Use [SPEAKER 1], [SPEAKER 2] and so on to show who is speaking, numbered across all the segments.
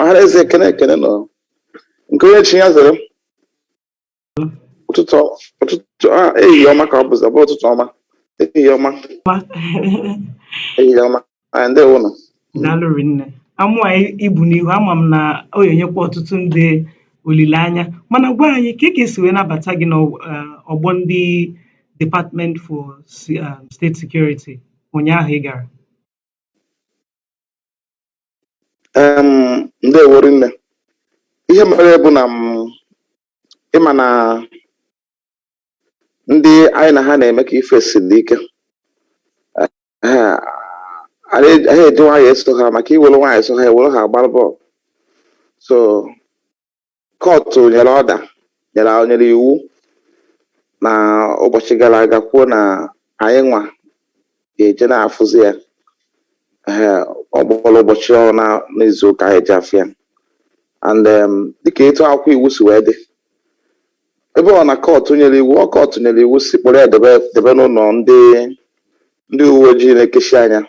[SPEAKER 1] ọha na eze ekene ekene nụ nke onye chi ya zere ụtụtụ ụtụtụ a ehihie ọma ka ọ bụzi ọ bụ ụtụtụ ọma ehihie ọma ehihie ọma ndewo nụ daalụ rinne
[SPEAKER 2] amụ anyị i bu n'ihu ama m na ọ ga-enyekwa ọtụtụ ndị olileanya mana gwa anyị ka ka esi wee nabata gị n'ọgbọ ndị Department for Se- um, State Security ụnyaahụ ị gara
[SPEAKER 1] em ndewo rinne ihe mere bụ na m ị ma na ndị anyị na ha na-eme ka ife siri ike anaghị eji nwayọ eso ha maka i were nwayọ eso ha e were ha agbara bọọlụ so Kọtụ nyere order nyere nyere iwu na ụbọchị gara aga kwuo na anyị nwa ga-eje na-afụzi ya ee ọ kpọrọ ụbọchị one n'izu ụka anyị ji afụ ya and um, dịka etu akwụkwọ iwu si wee dị ebe ọ na kọtụ nyere iwu ọ kọtụ nyere iwu sị kpọrọ ya debe debe n'ụlọ ndị ndị uwe ojii na-ekechi anya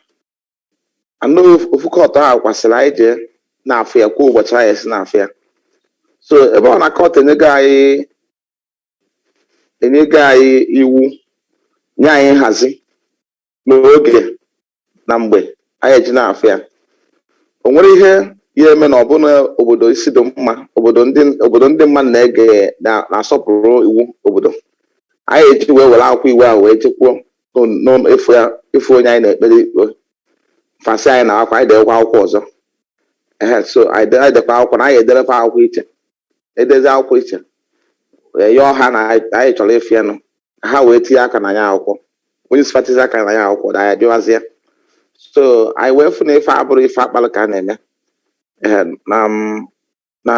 [SPEAKER 1] ọ nụ ofu kọtụ ahụ kwa sịrị anyị jee na-afụ ya kwuo ụbọchị anyị esi na-afụ ya so ebe ọ na kọtụ enyego anyị enyego anyị iwu nye anyị nhazi n'oge na mgbe anyị eji na-afụ ya o nwere ihe ya eme na ọ bụ na obodo isi dị mma obodo ndị obodo ndị mmadụ na-ege na- na-asọpụrụ iwu obodo anyị eji wee were akwụkwọ iwu ahụ wee jekwuo n'ụlọ ịfụ ya ịfụ onye anyị na-ekpere ikpe fa sị anyị naakwa anyị dewekwa akwụkwọ ọzọ ehe so anyị de- anyị dekwa akwụkwọ na anyị ederekwa akwụkwọ iche edezi akwụkwọ iche wee yọọ ha na anyị anyị chọrọ ịfụ ya nụ ka ha wee tinye aka na ya akwụkwọ onye isi fa tizi aka na ya akwụkwọ na anyị bịawazie so anyị wee fụ na ife abụrụ ife a kpalụ aka na-eme ehe na m na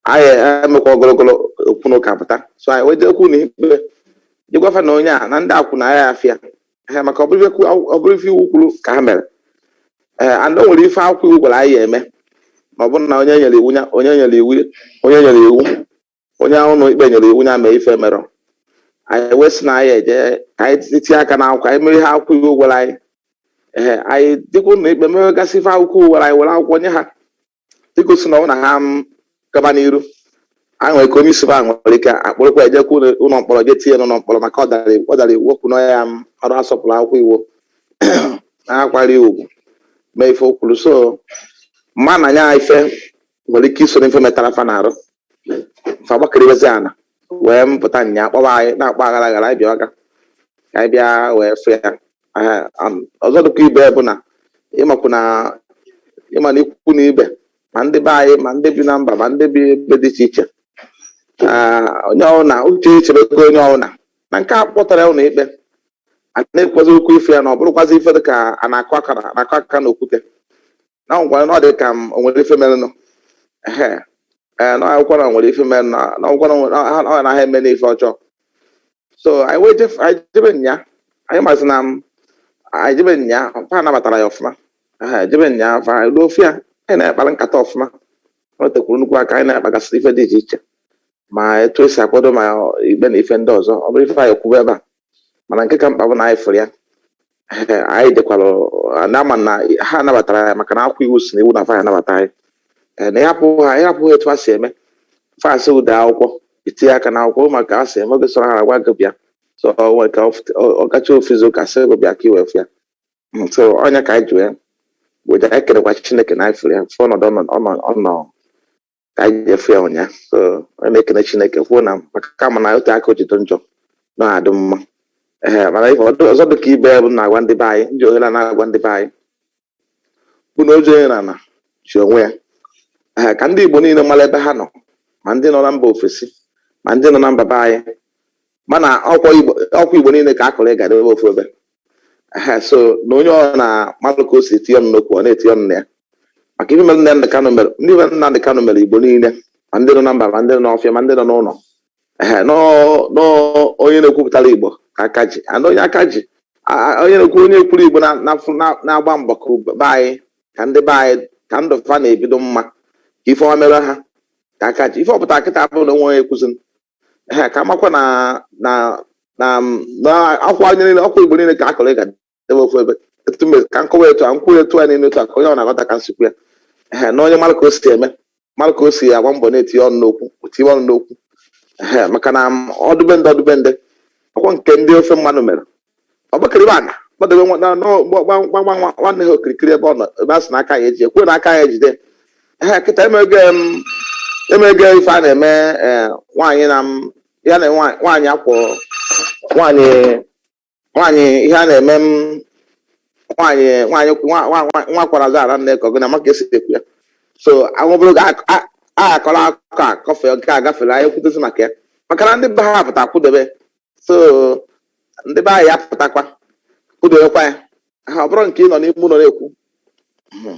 [SPEAKER 1] anyị emekwa ogologo okwu na ụka pụta so anyị wee jeekwu na ikpe je gwa fa na onye a na ndị akwụ na ya afịa ha maka ọ bụrụ ife kwu- ọ bụrụ ife iwu kwuru ka ha mere ee and o nwere ife akwụkwọ iwu gwara anyị ya eme ma ọ bụrụ na onye nyere iwu ya onye nyere iwu onye nyere iwu onye ụlọ ikpe nyere iwu ya mee ife merọ anyị wee sị na anyị eje ka anyị tinye aka na akwụkwọ anyị mere ihe akwụkwọ iwu gwara anyị ee anyị dịkwa ụlọ ikpe mewegasị ife akwụkwọ iwu gwara anyị were akwụkwọ nye ha igosi na ọ na ha gaba n'iru a nwere ike onye isi ha nwere ike akpụrụkwa ejekwa ụlọ ụlọ mkpọrọ je tinye n'ụlọ mkpọrọ maka ọ dara iwu- ọ dara iwu o kwu na ya amarọ asọpụrụ akwụkwọ iwu na akwari ugwu mee ife o kwuru so m ma na nya ife nwere ike iso n'ife metara fa na-arụ fa gbakịrịbezi ana wee mpụta nya kpọba anyị na-akpọ aghara aghara anyị bịa ọga ka anyị bịa wee fụ ya Aha, am- ọzọ dịkwa ibe bụ na ịmakwu na ịma na ikwu na ibe ma ndị be anyị ma ndị bi na mba ma ndị bi ebe dị iche iche Ah, onye ọbụla uche echebego onye ọbụla na nke a kpọtara ụlọ ikpe a na-ekwuzi okwu ife ya na ọ bụrụkwazi ife dị ka a na-akụ aka na- na-akụ aka na okwute na nkwara na ọ dị ka m o nwere ife merenụ ehe ee na akwụkwọ na nwere ife merenụ na na akwụkwọ na nwere- na ha ọ naghị eme n'ife ọjọọ so anyị wee jef anyị jebe nya anyị mazi na m anyị jebe nya fa nabatara ya ọfụma ehe jebe nya fa anyị ruo fụ ya anyị na-akpara nkata ọfụma o tekwuru nnukwu aka anyị na-akpagasị ife dị iche iche ma etu esi akwado ma ikpe na ife ndị ọzọ ọ bụrọ ife anyị ya-ekwube ebe a mana nke ka mkpa bụ na anyị fụrụ ya anyị dịkwara na-ama na ha nabatara ya maka na akwụkwọ iwu sị na iwu na fa anabata anyị Ee, na ịhapụ ha ịhapụ ha etu ha si eme fasị ụdị akwụkwọ itinye aka na akwụkwọ maka ha si eme oge sọrọ ha agwa gị bịa so ọ nwere ka ọ gacha ofu izu ụka sị gị bịa ka i wee fụ ya Mm, so ọ nya ka anyị ji wee weta anyị kelekwa chineke na anyị fụrụ ya fụ ọnọdụ ọ nọ- ọ nọ- ọ nọ ka anyị jee fụ ya ụnyaahụ so a na-ekene chineke kwuo na maka kama na otu aka o ji dị njọ na-adị mma ee mana ihe ọdụ- ọzọ dị ka ibe ya bụ na-agwa ndị be anyị na ihe a na-agwa ndị be anyị bụ na oji onye n'ana ji onwe ya ee ka ndị igbo niile mara ebe ha nọ ma ndị nọ na mba ofesi ma ndị nọ na mba be anyị mana ọkwa igbo ọkwa igbo niile ka a kụrụ ịga debe ofu ebe Ehe, so na onye ọbụna malụ ka o si etinye ọnụ n'okwu ọ na-etinye ọnụ na ya maka ihe mere Nnamdị Kanụ mere ndị mere Nnamdị Kanụ mere Igbo niile ma ndị nọ na mba ma ndị nọ n'ọfịa ma ndị nọ n'ụlọ ehe nọọ nọọ onye na-ekwupụtara Igbo ka aka ji ana onye aka ji a- a- onye na-ekwu onye ekwuru Igbo na- na- na- na-agba mbọ ka ube- be anyị ka ndị be anyị ka ndụ fa na-ebi dị mma ka ife ọma mere ha ka aka ji ife ọ pụta kịta abụrụ na o nwe onye kwụziri ehe ka a makwa na na na na ọkwa anyị niile ọkwa igbo niile ka a kụrụ ịga debe ofu ebe etu mbe ka m kọwa etu a nkwụ etu a niile otu a ka onye ọbụna ghọta ka m si ekwu ya ehe na onye mara ka o si eme mara ka o si agba mbọ na-etinye ọnụ n'okwu tinye ọnụ n'okwu ehe maka na ọ dị be ndị ọ dị be ndị ọkwa nke ndị ofe mmanụ mere ọ gbakịrịba ana gbadobe nwa- na- na- gba- gba- gba- gba- nwa- nwanne ha okirikiri ebe ọ nọ ebe a sị na aka ya eji ekwe na aka ya ejide ha kịta emego em, emego ife a na-eme eh, nwaanyị na m- ya na nwa- nwaanyị akwụ nwaanyị nwaanyị ihe a na-eme m nwaanyị nwaanyị nwa- nwa- nwa- nwa kwara azụ ara nne ka ọgụ na ma ka esi ekwu ya so anwụbụrụ ga a akọrọ akụkọ a kọfe nke a gafere anyị kwutezi maka ya maka na ndị be ha pụta kwụdebe so ndị be anyị apụtakwa kwudokwa ya ha ọ bụrọ nke ị nọ n'ime ụlọ na-ekwu Mhm.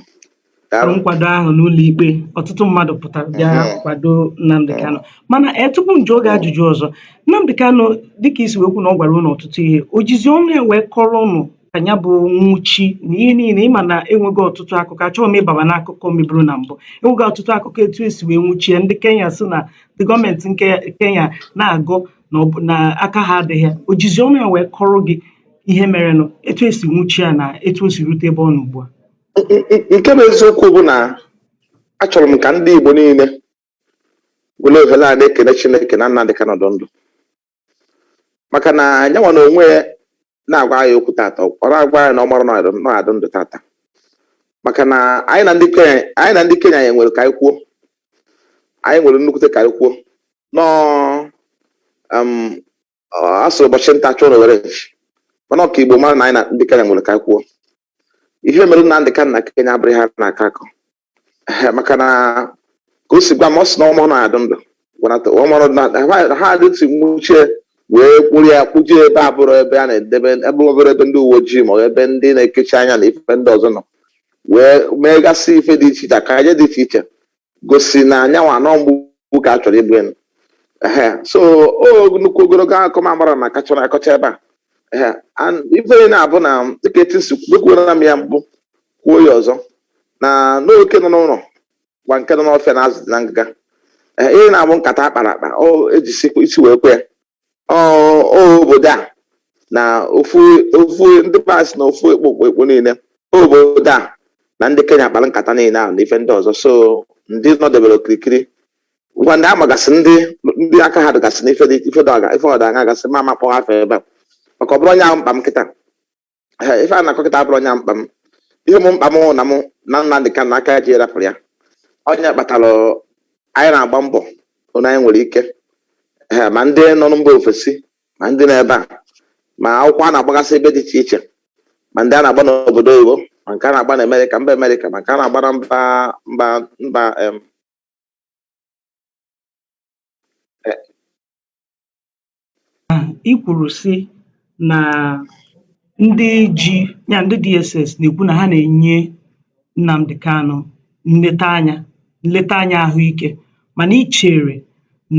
[SPEAKER 1] Daalụ.
[SPEAKER 2] nkwado ahụ n'ụlọ ikpe ọtụtụ mmadụ pụtara bịa Mhm. kwado Nnamdi Kanu mana ee tupu m jụọ gị ajụjụ ọzọ Nnamdi Kanu dịka i si wee kwuo na ọ gwara ụnụ ọtụtụ ihe o jizi ọnụ ya wee kọrọ ụnụ ka ya bụ nwụchi na ihe niile ị ma na e nwego ọtụtụ akụkọ achọghị m ịbaba n'akụkọ meburu na mbụ e nwego ọtụtụ akụkọ etu e si wee nwụchi ya ndị Kenya sị na ndị gọọmenti nke Kenya na-agọ na ọ bụ na aka ha adịghị ya o jizi ọnụ ya wee kọrọ gị ihe merenụ etu e si nwụchi ya na etu o si rute ebe ọ nọ ugbu a N- n- nke bụ
[SPEAKER 1] eziokwu bụ na achọrọ m ka ndị Igbo niile were ohere a na-ekele Chineke na Nnamdi Kanu dị ndụ maka na ya nwa na onwe ya na-agwa anyị okwu tata ọ ọ na-agwa anyị na ọ marọ na ọ ya-adị ndụ tata maka na anyị na ndị Kenya anyị na ndị Kenya anyị nwere ka anyị kwuo anyị nwere nnukwute ka anyị kwuo nọọ um, ọ- a sịrị ụbọchị nta a chụọ n'owere nchi mana ọ ka Igbo mara na anyị na ndị Kenya nwere ka anyị kwuo ihe mere Nnamdi Kanu na Kenya abụrọ ihe a na-akọ akọ Ehe, maka na ka o si gwa m ọ sị na ọ marọ na ọ ya-adị ndụ gwanata ọ marọ na ha- ha adịtụ nwuchi ya wee kpụrụ ya kpụje ebe abụrọ ebe a na-edebe ebe ọ bụrọ ebe ndị uwe ojii ma ọ bụ ebe ndị na-ekechi anya na ife ndị ọzọ nọ wee megasị ife dị iche iche akaje dị iche iche gosi na ya nwa na ọ mgbu ka a chọrọ igbu ya nụ ehe so ọ nnukwu ogologo akụkọ ma mara na akachọrọ akọcha ebe a Ehe, and ife ọ na-abụ na dịka etu m si kwu ekwuola m ya mbụ kwuo ya ọzọ na na oke nọ n'ụlọ gwa nke nọ n'ọfịa na azụ dị na ngịga Ehe, ihe na-abụ nkata a kpara akpa ọ e jizi isi wee kwe ya ọ ọ obodo a na ofu ofu ndị pas na ofu ekpo ekpo ekpo niile ọ obodo a na ndị Kenya kpara nkata niile ahụ na ife ndị ọzọ so ndị nọdebere okirikiri ngwa ndị amagasị ndị ndị aka ha dịgasị n'ife dị ife dị ọga- ife ọda anya gasị m ama akpọ afa ebe a maka ọ bụrọ nya bụ mkpa m kịta Ee, ife a na-akọ kịta abụrọ nya bụ mkpa m ihe bụ mkpa m bụ na Nnamdi Kanu aka ji rapụrụ ya ọ nya kpatara anyị na-agba mbọ ọbụna anyị nwere ike Ee, ma ndị nọ na mba ofesi ma ndị nọ ebe a ma akwụkwọ a na-agbagasị ebe dị iche iche ma ndị a na-agba n'obodo oyibo ma nke a na-agba na amerịka mba amerịka ma nke a na-agba na mba mba mba em,
[SPEAKER 2] i kwùrù sị nà ndị ji ya ndị DSS nà-èkwu nà ha nà-ènye Nnamdi Kanu nleta anyȧ nleta anyȧ àhụikė mànà i chèrè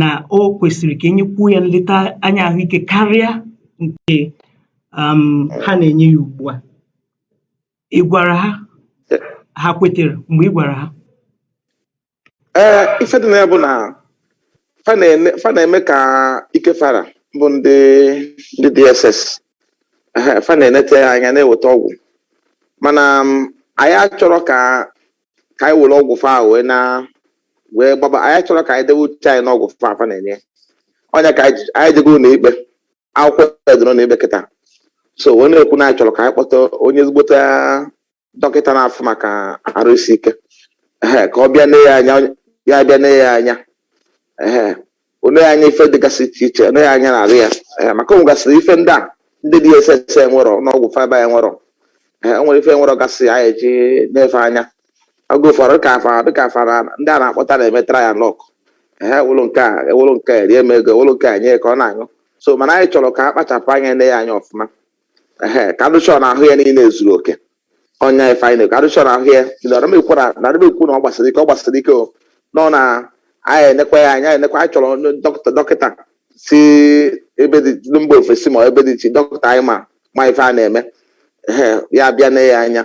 [SPEAKER 2] nà o kwèsìrì kà e nyekwuo yȧ nleta anyȧ àhụikė karịa ǹkè um ha nà-ènye yȧ ùgbua Ị gwara ha? Ha kwetere mgbe ị gwara ha?
[SPEAKER 1] Ee, ife dị na ya bụ na fa na-ene- fa na-eme ka ike fa ra bụ ndị ndị DSS Ehe, fa na-enete ya anya na-eweta ọgwụ mana m, anyị achọrọ ka ka anyị were ọgwụ fa wee na wee gbaba anyị achọrọ ka anyị dewe uche anyị n'ọgwụ fa fa na-enye ọ nya ka anyị ji- anyị jego ụnọ ikpe akwụkwọ ya dị n'ụnọ ikpe kịta so wee na-ekwu na anyị chọrọ ka anyị kpọta onye ezigbote dọkịta na-afụ maka arụ isi ike ehe ka ọ bịa nee ya anya ya bịa nee ya anya ehe o nee ya anya ife dịgasị iche iche o nee ya anya n'arụ ya ehe maka o nwegasịrị ife ndị a ndị DSS enwerọ n'ọgwụ fa ebe a enwerọ ehe o nwere ife enwerọ gasị anyị eji na-efe anya oge ụfọdụ dịka afa dịka afa na ndị a na-akpọta na-eme trial luck ha ewere nke a ewere nke a rie m ego ewere nke a nye ya ka ọ na-aṅụ so mana anyị chọrọ ka a kpachapụ anya nee ya anya ọfụma ehe ka a dị sure na ahụ ya niile zuru oke ọ nya ife anyị na-ekwu a dị sure na ahụ ya narịmekwu na narịmekwu na ọ gbasiri ike ọ gbasiri ike o nọ na anyị enekwa ya anya enekwa anyị chọrọ onye dọkịta dọkịta si ebe dị ndị mba ofesi ma ebe dị iche dọkịta anyị ma ma ife a na-eme ehe ya bịa nee ya anya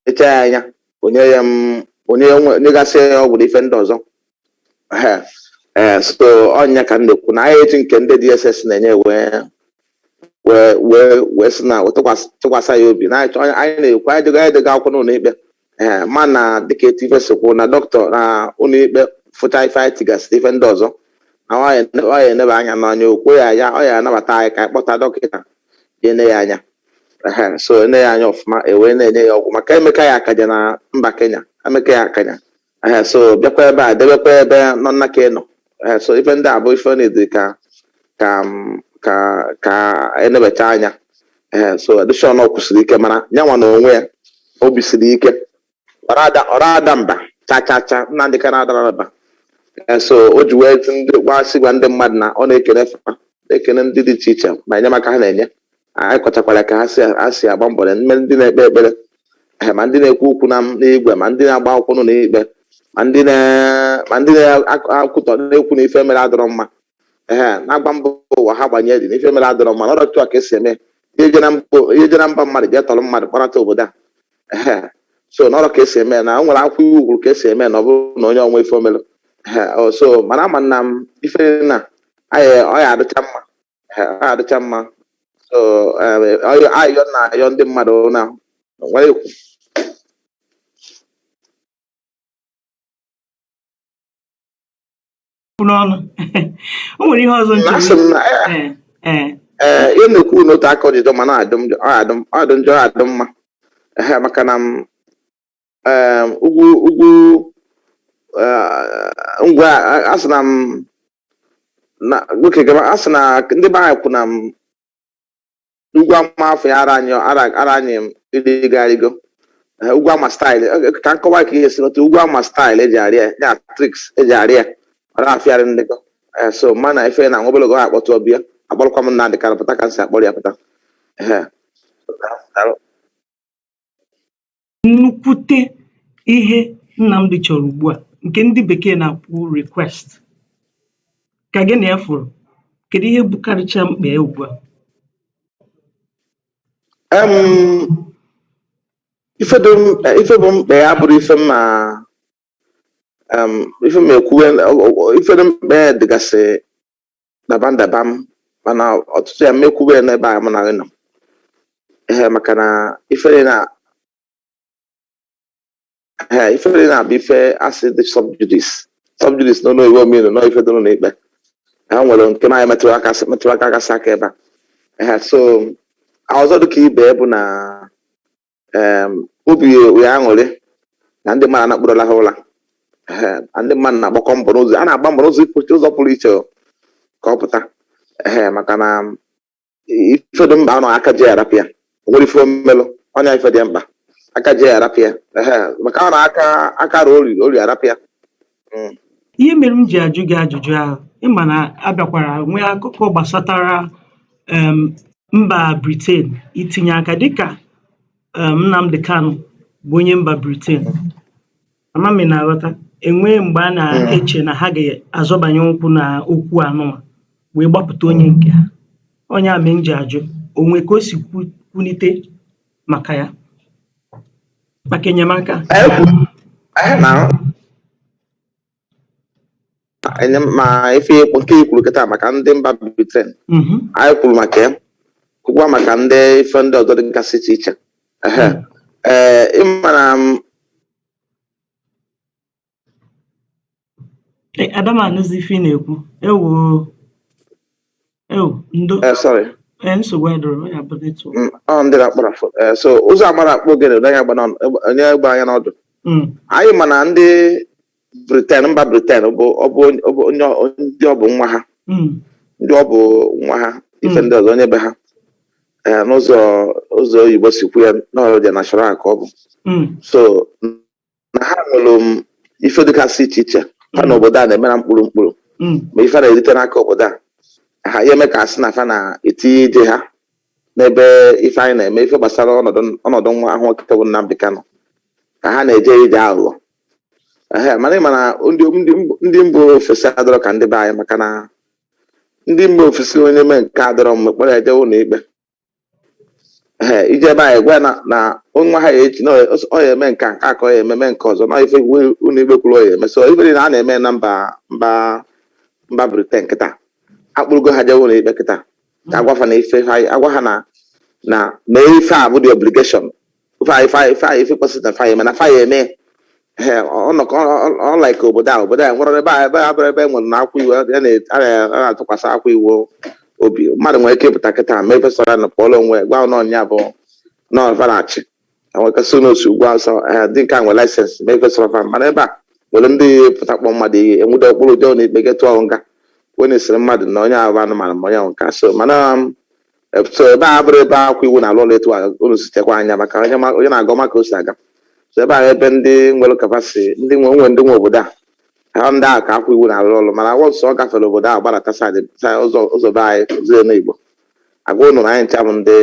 [SPEAKER 1] nechaa ya anya o nye ya m o nye ya nwe- nyegasị ya ọgwụ na ife ndị ọzọ ehe ee so ọ nya ka m na-ekwu na anyị eji nke ndị DSS na-enye wee wee wee wee sị na wee tụkwasị tụkwasị ya obi na anyị chọ- anyị na-ekwu anyị dega anyị dega akwụkwọ n'ụnọ ikpe ee ma na dịka etu ife si kwụ na dọkịta na ụnọ ikpe fụchaa ife anyị tigasịrị ife ndị ọzọ na ọ ya- ọ ya eneba anya na nya o kwe ya anya ọ ya anabata anyị ka anyị kpọta dọkịta ya ene ya anya Ehe, so ene ya anya ọfụma e wee na-enye ya ọgwụ maka emeka ya akaja na mba Kenya emeka ya akaja Ehe, so bịakwa ebe a debekwa ebe nọ nna ka ị nọ Eh, so ife ndị a bụ ife na-edi ka ka m- ka ka enebacha anya Eh, so a dị sure na ọ kwụsiri ike mana nya nwa n'onwe ya obi siri ike ọ ra ada ọ ra ada mba cha cha cha Nnamdi Kanu adarọ mba Eh, so o ji wee tụ ndị gwasị gwa ndị mmadụ na ọ na-ekene fa na-ekene ndị dị iche iche ma enyemaka ha na-enye anyị kọchakwara ka ha si ha si agba mbọ na ma ndị na-ekpe ekpere eh, ma ndị na-ekwu okwu na n'igwe ma ndị na-agba akwụkwọ n'ụnọ ikpe ma ndị na- ma ndị na-ekwutọ na-ekwu na ife e mere adịrọ mma ehe na-agwa mba ụwa ha gbanye dị na ife e mere adịrọ mma na ọrọ otu a ka esi eme ihe je na mba i je na mba mmadụ jee tọrọ mmadụ kpọnata obodo a ehe so na ọrọ ka esi eme na o nwere akwụkwọ iwu kwuru ka esi eme na ọ bụrụ na onye o nwere ife o mere ehe o, so mana ama na m ife na anyị ọ ya adịcha mma na-adịcha mma so ayọ na ayọ ndị mmadụ na nwere ekwu
[SPEAKER 2] n'ọnụ o nwere ihe ọzọ
[SPEAKER 1] ee ihe na-ekwu n'otu aka ọjụjụ ma na-adụ njọ adụ mma maka na em, ugwu ugwu eh, ngwa a- a sị na m na oke gaba a sị na ndị be anyị kwu na ugwu ama afọ ya ara anyị ara ara anyị m ịrịgarigo Eh, ugwu ama style Eh, ka m kọwa ka ihe si n'otu ugwu ama style eji arị ya tricks eji arị ya ọ na-afịa arụ ịrịgo Eh, so mana ife na nwa obologo ha akpọtụ ọbịa akpọrọkwa m Nnamdi Kanu pụta ka m si akpọrọ ya pụta Ehe.
[SPEAKER 2] nnukwute ihe Nnamdi chọrọ ugbu a nke ndị bekee na-akpọ request ka gị na ya fụrụ kedu ihe bukarịcha mkpa ya ugbu a
[SPEAKER 1] ife bụ mkpa ya bụrụ ife ma ife ma ekwuwe ife dị mkpa ya dịgasị dabam dabam mana ọtụtụ ya m ma-ekwube ya n'ebe a mụ na gị nọ ee maka na ifere na ee ifere na-abụ ife asị dị subjudice subjudice n'ụlọ iwu omeiwu nọ ife dị n'ụlọ ikpe ha nwere nke na anyị metụrụ aka gasị aka ebe a ee so ọzọ dịka ibe bụ na em, obi ya aṅụrị na ndị mmadụ anakpụrụla ha ụra Ehe, na ndị mmadụ na-agbakọ mbọ n'ụzọ a na-agba mbọ n'ụzọ ụzọ pụrụ iche o, ka ọ pụta Ehe, maka na ife dị mkpa ọ na aka ji ya arapụ ya o nwere ife o melụ ọ nya ife dị mkpa aka ji ya arapụ ya Ehe, maka ọ na aka aka rụ ori ori arapụ ya
[SPEAKER 2] mm. ihe mere m ji ajụ gị ajụjụ ahụ ị ma na abịakwara nwee akụkọ gbasatara um, mba Britain itinye aka dịka um, Nnamdi Kanu bụ onye mba Britain ama m ị na-aghọta enwee mgbe a na-eche na ha ga-azọbanye ụkwụ na okwu anụwa wee gbapụta onye nke ha ọ nya mee m ji ajụ o nwee ka o si kwunite maka ya
[SPEAKER 1] maka enyemaka ma ife nke i kwuru kịta maka ndị mba Britain mhm. anyị kwuru maka ya kwukwa maka ndị ife ndị ọzọ dịgasị iche iche ee ị ma na
[SPEAKER 2] Eh, Ada m anụzi ife ị na-ekwu. Ewo. Ewo, ndo. Eh, sorry. Eh, nsogbu
[SPEAKER 1] adịrọ,
[SPEAKER 2] ọ ya bụ network. Mm, ọ ndị na-akpara fo-
[SPEAKER 1] eh, so ụzọ amara akpọ ogene ụdọ anya gbara ọnụ- egbe- onye egbe anya n'ọdụ Mm, anyị ma na ndị Britain mba Britain bụ ọ bụ onye- ọ bụ onye ọ- ndị ọ bụ nwa ha mm, ndị ọ bụ nwa ha ife Mm. ndị ọzọ onye be ha Eh, n'ụzọ ụzọ oyibo si kwu ya na ọ their national ka ọ bụ mm, so na ha nwere um, ife dịgasị iche iche ha na obodo a na-eme na mkpụrụ mkpụrụ Mm. ma ife ha na-erite n'aka obodo a ha ya eme ka a sị na fa na-etinye ije ha n'ebe ife anyị na-eme ife gbasara ọnọdụ ọnọdụ nwa ahụ nwoke bụ Nnamdi Kanu ka ha na-eje ije aghụghọ ehe mana ị ma na ndị ndị mb- ndị mba ofesi adọrọ ka ndị be anyị maka na ndị mba ofesi onye mee nke adọrọ mma ị kpọrọ ya jee ụlọ ikpe ee i je ebe anyị gwa ya na na nwa ha ya echi na ọ- ọ ya eme nke a, nke a ka ọ ya ememe nke ọzọ na ife iwu- ụlọ ikpe kwuru ọ ya eme so ife niile a na-eme na mba mba mba Britain kịta a kpụrụgo ha jewe ụlọ ikpe kịta ka a gwa fa na ife ha agwa ha na na na ife a bụ the obligation fa ya fa ya fa ya ife kwesịrị na fa ya eme na fa ya eme Ee, ọ nọ ka ọ- ọ like obodo a obodo a nwere ebe a ebe a bụrụ ebe e nwere na akwa iwu a na- a na- a na-atụkwasị akwa iwu obi mmadụ nwere ike ịpụta kịta mee ife sọrọ ya na pụọla onwe ya, gwa n'ọnya bụ nọvarachi enwekasị n'otu ugwu Awụsa ee, ndị nke a nwere license mee ife sọrọ fa mana ebe a nwere ndị pụta kpọ mmadụ ihe e nwude kpụrụ jee ụlọ ikpe jee tụọ nga onye sịrị mmadụ na onye ahụ bụ anụmanụ ma onye ahụ nke a. so mana um, so ebe a bụrụ ebe akwa iwu na-alụ ọrụ etu a unu sitekwa anya maka onye ma- onye na-agụ ma ka o si aga so ebe ahụ ebe ndị nwere capacity ndị nwe onwe ndị nwe obodo a ha ndị ahụ ka akwa iwu na-alụ ọrụ mana once ọ gafere obodo ahụ gbadata side side ụzọ ụzọ be anyị ụzọ enu Igbo a gwa unu na anyị ncha bụ ndị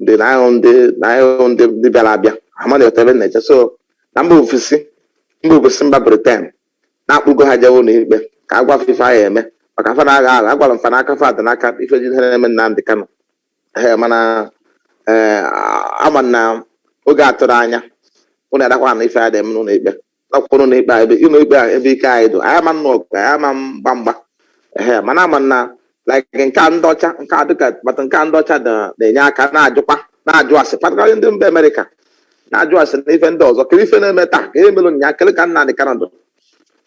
[SPEAKER 1] ndị na anyị bụ ndị na anyị bụ ndị ndị bịara abịa ama na-ete ebe na-eche so na mba ofesi mba ofesi mba Britain na a kpụgo ha jewe ụlọ ikpe ka a gwa fa ife fa ya eme maka fa na-agha agha a gwara fa na aka fa dị n'aka ife ji ihe na-eme Nnamdi Kanu ee mana ee ama m na oge atụrụ anya ụnụ adakwa na ife a dị eme n'ụlọ ikpe nakwa ụlọ ikpe a ebe ụlọ ikpe a ebe ike anyị dụ anyị ama nnụ ọgụ anyị ama mgba mgba ee mana ama m na like nke a ndị ọcha nke a dịka kpata nke a ndị ọcha na- na-enye aka na-ajụkwa na-ajụ ase particularly ndị mba America na-ajụ ase na ife ndị ọzọ kere ife na-eme taa ka ihe mere nya kele ka Nnamdi Kanu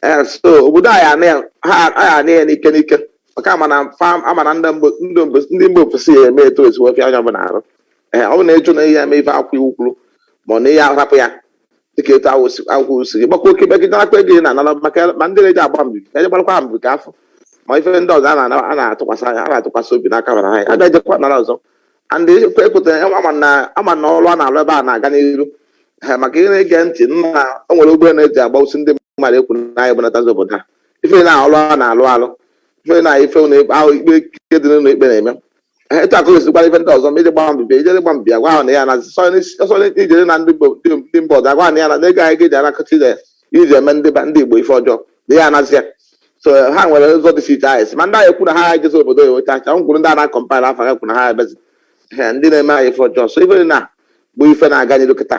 [SPEAKER 1] ee so obodo anyị anị ya- ha anyị anị ya n'ike n'ike maka ama m na fa- ama m na ndị mba- ndị mba- ndị mba ofesi ya eme etu e si wee fịa onye ọbụla arụ ee ọ bụ na ị jụ na ị ya eme ife akwa iwu kwuru ma ọ na ị ya ahapụ ya dịka etu ahụ si- akwụkwọ si gị gbakwa oke megide akpa ego ị na-anara maka ya- ma ndị na-eji agba mbibi ka eje gbarakwa ha mbibi ka afọ ma ife ndị ọzọ a na-ana- a na-atụkwasị anya a na-atụkwasị obi n'aka bara ha a ga-ejekwa nara ọzọ and ekwe ekwetara ya ama na ama na ọrụ a na-arụ ebe a na-aga n'iru ha maka ihe na-ege ntị nna o nwere ụgbọ na-eji agba osi ndị mmadụ ekwu na anyị bụnatazi obodo ha ife na ọrụ a na-alụ alụ ife na ife na ahụ ikpe ikpe dị n'ụlọ ikpe na-eme Ee, etu akụ esikwara ife ndị ọzọ ma ije gba mbibi ijere gba mbibi agwa ha na ya na sọsọ ijere na ndị Igbo- ndị ndị mba ọzọ agwa ha na ya na n'ego anyị ga-eji anakọta ije iji eme ndị ba- ndị Igbo ife ọjọọ na ya anazi ya so ha nwere ụzọ dị iche iche anyị si ma ndị anyị kwu na ha ejezi obodo ya weta acha ngwuru ndị a na-akọmpaịl afọ ha kwu na ha ebezi Ee, ndị na-eme anyị ife ọjọọ so ife na bụ ife na-aga n'iru kịta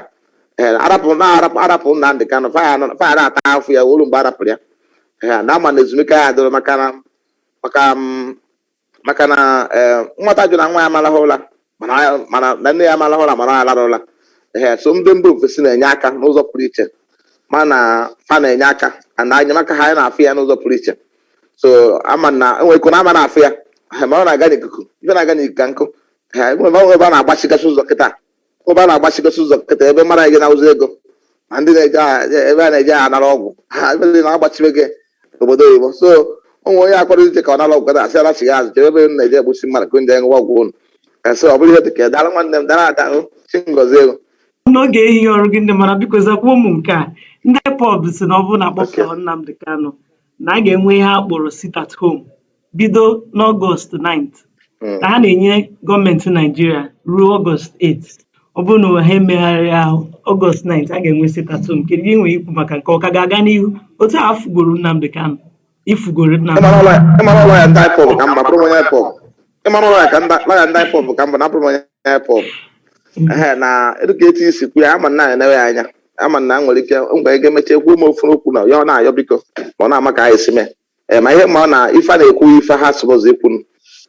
[SPEAKER 1] Ee, arapụ na arapụ arapụ Nnamdị Kanụ fa ya nọ- fa ya na-ata afụ ya wee lu mgbe arapụrụ ya Ee, na ama na ezumike ya adịrọ maka na maka m maka na ee nwata jụ na nwa ya amalahụ ụla mana ya- mana na nne ya amalahụ ụla mana ya alara ụla ee so ndị mba ofesi na-enye aka n'ụzọ pụrụ iche mana fa na-enye aka na enyemaka ha anyị na-afụ ya n'ụzọ pụrụ iche so ama na enwere iko na ama na-afụ ya ee, ma ọ na-aga n'ikuku ife na-aga n'ikuku ka nkụ ee, enwere ebe a na-agbachigasị ụzọ kịta ebe a na-agbachigasị ụzọ kịta ebe mara gị na-awụzi ego ma ndị na-eje a- ebe a na-eje anara ọgwụ ha ebe ndị na-agbachibe gị obodo oyibo so ụmụ onye akpọrọ ije ka ọ nara ọgwụ gada asị alachigha azụ jebe ebe unu na-eje egbusi mmadụ ka ndị ṅụwa ọgwụ unu so ọ bụrụ ihe dị ka daalụ nwanne m daalụ ada o, chi ngozi ego n'oge
[SPEAKER 2] ehihie ọrụ gị ndị mara biko zakwuo mụ nke a ndị IPOB si na ọ bụrụ na Okay. akpọpụrụ Nnamdi Kanu na a ga-enwe ihe a kpọrọ sit at home bido n'ọgọst 9th mm. ka ha na-enye gọọmenti naijiria ruo ọgọst 8th ọ bụrụ na ha emegharị ahụ ọgọst 9th a ga-enwe sit at home kedu ihe i nwere ikwu maka nke ọ ka ga-aga n'ihu otu a fụgoro Nnamdi Kanu ị fụgoro Nnamdi ịmara ụlọ ya ndị IPOB ka mma bụrụ onye IPOB ịmara ụlọ ya ka
[SPEAKER 1] ndị IPOB ka mma na bụrụ onye IPOB mm. na dịka etu isi kwu ya ama na ya enewe ya anya ama na nwere ike mgbe ga-emecha ekwu ụmụ ofu okwu na ya ọ na-ayọ biko ma ọ na-ama ka anyị si mee ee ma ihe ma ọ na ife a na-ekwu ife ha sị bụzị ikwunu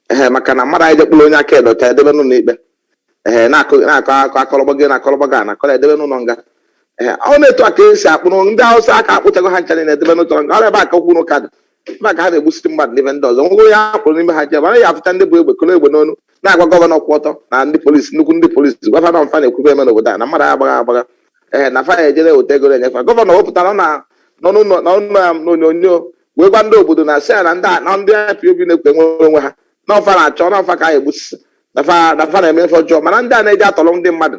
[SPEAKER 1] ee maka na mmadụ anyị jekpụrụ onye aka edo ka edebe n'ụlọ ikpe ee na-akụ na-akọ akọ akọrọgba gị na-akọrọgba gị na akọrọ edebe n'ụlọ nga ee ọ na-etu a ka esi akpụrụ ndị awụsa aka akpụchago ha ncha niile edebe n'ụlọ nga ọ ebe a ka okwu na ụka dị ebe a ka ha na-egbusiri mmadụ n'ebe ndị ọzọ nwego onye a kpụrụ n'ime ha jee mana ya afụcha ndị bu egbe koro egbe n'onu na-agwa gọvanọ kwụ ọtọ na ndị polisi nnukwu ndị polisi gwafa na fa na-ekwube eme n'obodo a na mmadụ agbaghị agbagha ee na fa ejere weta ego na-enyefa gọvanọ wepụtara na nọ n'ụlọ na ụlọ ya n'onyonyo wee gwa ndị obodo na si ya na ndị a- na ndị IPOB na-ekwu inwere onwe ha na ọ fa na-achọ na ọ fa ka anyị egbusisi na fa na fa na-eme ife ọjọọ mana ndị a na-eji atọrọ ndị mmadụ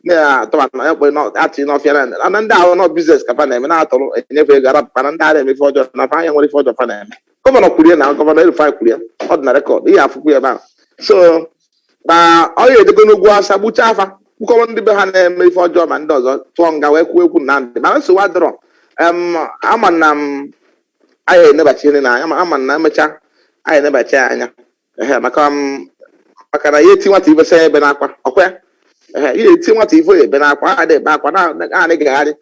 [SPEAKER 1] na-atọba na ya kpọrọ na- atị n'ọfịa na na ndị ahụ na ọ biznes ka fa na-eme na-atọrọ enyefe ego arapụ mana ndị a na-eme ife ọjọọ na fa anya nwere ife ọjọọ fa na-eme gọvanọ kwurie na gọvanọ El-Rufai kwurie ọ dị na rekọd ị ya-afụkwu ya ebe ahụ so na ọ ya edego n'ugwu asa gbuchaa afa kpụkọrọ ndị be ha na-eme ife ọjọọ ma ndị ọzọ tụọ nga wee kwuo ekwu na ndị mana nsogbu adịrọ em ama na m anyị enebachi ihe na anya ma- ama na emechaa anyị enebachi ya anya ehe maka m maka na ya eti nwata ife sị ya ebena akwa ọkwa ya ehe ya eti nwata ife ya ebena akwa a na-ebe akwa na- na- na-agagharị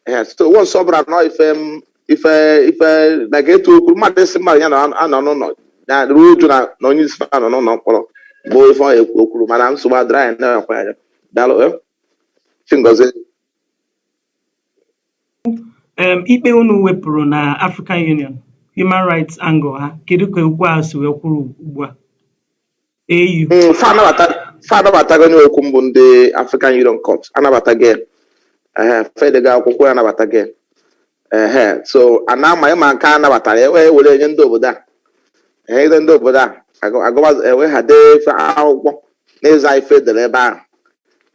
[SPEAKER 1] ehe so once ọ bụrụ na ife m ife ife dịka etu o kwuru mmadụ ịsị mmadụ ya na anọ n'ụlọ na-eru uju na na onye isi anọ n'ụlọ mkpọrọ bụ ife ọ ekwu okwuru mana nsogbu adịrọ anyị na-ekwe anya daalụ eh. chi
[SPEAKER 2] ngozi um, ikpe unu wepụrụ na African Union human rights angle ha kedu ka okwu a si wee kwụrụ ugbu a AU Mm, fa
[SPEAKER 1] anabata- fa anabatago onye okwu mbụ ndị african union court anabatago ehe fedega akwụkwọ ya anabatago ehe so a na-ama ịma nke a nabatara ya wee were nye ndị obodo a ehe ide ndị obodo a agụ- agụwa ewe ha dee ife akwụkwọ n'ịza ife edere ebe ahụ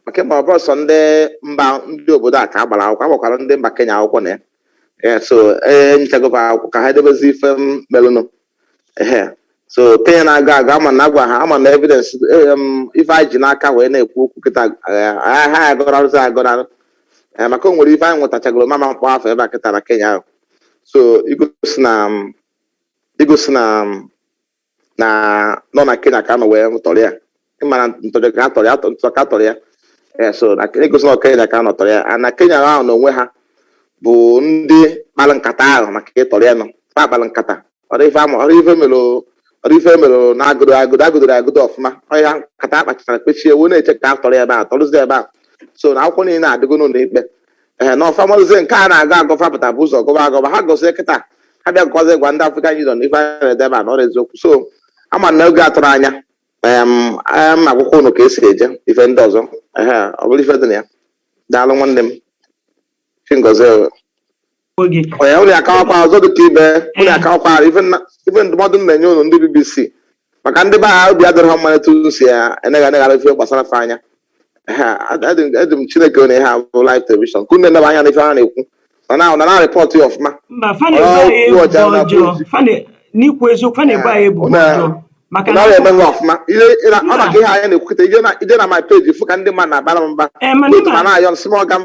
[SPEAKER 1] maka ị ma ọ bụrọ sọ ndị mba ndị obodo a ka a gbara akwụkwọ a gbakwara ndị mba kenya akwụkwọ na ya ee so e nyechago fa akwụkwọ ka ha edebezi ife merụnụ ehe so kenya na-agọ agọ ama na agwa ha ama na evidence em, ife anyị ji n'aka wee na-ekwu okwu kịta eh, ha ha agọrọ arụsị agọrọ arụ Eh, maka o nwere ife anyị nwetachagoro m ama akpọ afa ebe a kịta na kenya ahụ so egosi na mm, egosi na mm, na ọ na kenya ka a nọ wee tọrọ ya ị mara ntọ ka a tọrọ ya atọ- ntọ ka a tọrọ ya Eh, so na-egosi na kenya ka a nọ tọrọ ya Ah, na kenya ahụ na onwe ha bụ ndị kpara nkata ahụ maka ịtọrọ ya na ọ fa kpara nkata ọrọ ife ama ọrọ ife mere ọrọ ife mere na akwado akwado a kwadoro akwado ọfụma ọ ya nkata a kpachara kpachie wee na-eche ka a tọrọ ya ebe a tọrụzie ebe a so na akwụkwọ niile adịgo n'ụlọ ikpe ee na ọ fa mazi nke ha na-agọ agọ fa pụta bu ụzọ gọba agọba ha gọzie kịta ha bịa gọzie gwa ndị African Union ife a na-edeba na ọrọ eziokwu so ama na oge a tụrụ anya em a ma akwụkwọ unu ka e si eje ife ndị ọzọ ehe ọ bụrụ ife dị na ya daalụ nwanne m chi ngozi o. Onwe gị. onye unu akawakwa ọzọ dị ka ibe unu akawakwa ife nna- ife ndụmọdụ m na-enye unu ndị bbc maka ndị be ha obi adịrọ ha mma etu unu si enegha eneghara ife gbasara fa anya eji m chineke onye ha bụ live television ka unu neba anya n'ife ha na-ekwu na na na report ya ọfụma mba fa na-ebo anyị ebubo ọjọọ
[SPEAKER 2] fa na n'ikwu eziokwu fa na-ebo anyị ebubo ọjọọ
[SPEAKER 1] maka na eme ha ọfụma ọ maka ihe anyị na-ekwu kịta i jee na my page fụ ka ndị mmadụ na-abara m mba eh, na-ayọ nsị m ọga m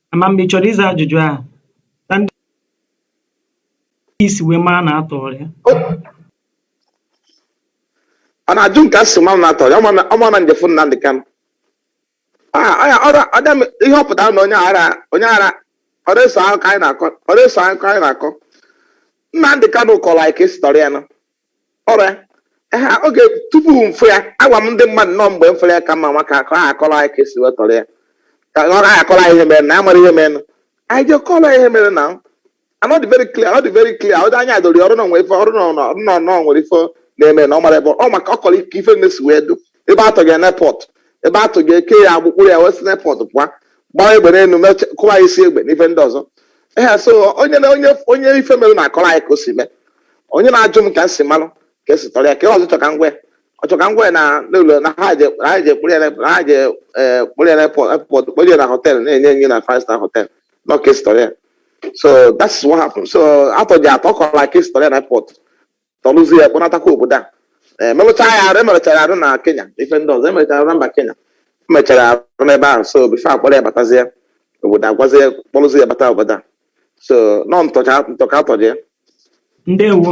[SPEAKER 2] Ama m mgbe ị chọrọ ịza ajụjụ ahụ ka i si wee mara na a tọrọ ya
[SPEAKER 1] ọ na-ajụ m ka e si mara na a tọrọ ya ọ ma na m jefụ Nnamdị Kanụ ihe ọ pụtara na onye ara onye ara ọrọ eso ahụ ka anyị na-akọ ọrọ eso ahụ ka anyị na-akọ Nnamdị Kanụ kọrọ anyị ka e si tọrọ ya nọ ọrụ ya ehe oge tupu mfụ ya agwa m ndị mmadụ na mgbe m fụrụ ya ka mma nwa ka ka ha akọrọ anyị ka esi wee tọrọ ya ka ọ gaghị akọrọ anyị ihe mere na amara ihe mere anyị je kọrọ ya ihe mere na ọ dị very clear ọ dị very clear ọ dị anya dori ọrụ na nwere ife ọrụ na na- na na nwere ife na-eme na ọ mara ebe ọ maka ọ kọrọ ka ife niine si wee dụ ebe atọ ya n'airport ebe atọ ya eke ya agbụ kpụrụ ya wee si n'airport pụọ gbaa egbe n'elu meche- kụwa ya isi egbe na ife ndị ọzọ ehe so onye na onye onye ife mere na-akọrọ anyị ka o si mee onye na-ajụ m ka m si malụ ka esi tọrọ ya ka ọzọ chọ ka m kwe ọ chọ ka m kwe na n'ụlọ na ha je na ha je kpụrụ ya na na ha je eh, kpụrụ ya na airport airport kpụrụ ya na hotel na-enye nye na five star hotel na ọ ka esi tọrọ ya so that is what happened so atọ ya atọ ọ kọrọ ka esi tọrọ ya na airport tọrụzi ya kpọnatakwa obodo a Eh, merụcha ya arụ emerụchara arụ na kenya ife ndị ọzọ emerụchara arụ na mba kenya emechara arụ n'ebe ahụ so before akpọrọ ya batazie obodo agazie kpọrụzi ya bata obodo a so na ọ ntọ ka ntọ ka atọ ya
[SPEAKER 2] ndewo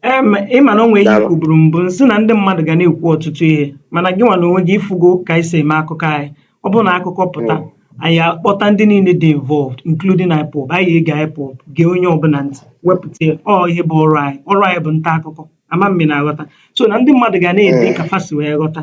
[SPEAKER 2] em ịma na o nwere ihe Daalụ. m kwuburu mbụ m sị na ndị mmadụ ga na-ekwu ọtụtụ ihe mana gị nwa na onwe gị ịfụgo ka anyị si eme akụkọ anyị ọ bụrụ na akụkọ pụta anyị akpọta ndị niile dị involved including IPOB anyị ege IPOB gee onye ọbụla ntị wepụta ya. ọ ihe bụ ọrụ anyị ọrụ anyị bụ nta akụkọ ama m ma ị na-aghọta so na ndị mmadụ ga na-ede ka fa si wee ghọta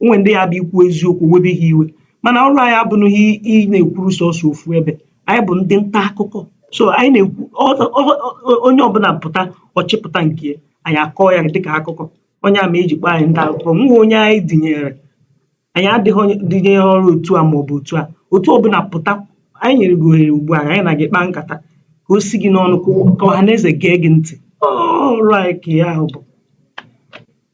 [SPEAKER 2] o nwere ndị ya bụ i kwuo eziokwu o webe ha iwe mana ọrụ anyị abụghị ị na-ekwuru sọsọ ofu ebe anyị bụ ndị nta akụkọ so anyị na-ekwu ọ- ọ- ọ- onye ọbụla pụta ọ chịpụta nke ya, anyị akọọ ya dịka akụkọ ọ ya mere eji kpọọ anyị nta akụkọ enweghị onye anyị dịnyere anyị adịghị adịnyere otu a maọbụ otu a otu ọbụla pụta anyị nyere gị ohere ugbu a anyị na gị kpaa nkata ka o si gị n'ọnụ ka ọ- ka ọha na eze gee gị ntị ọrụ anyị ka ya ahụ bụ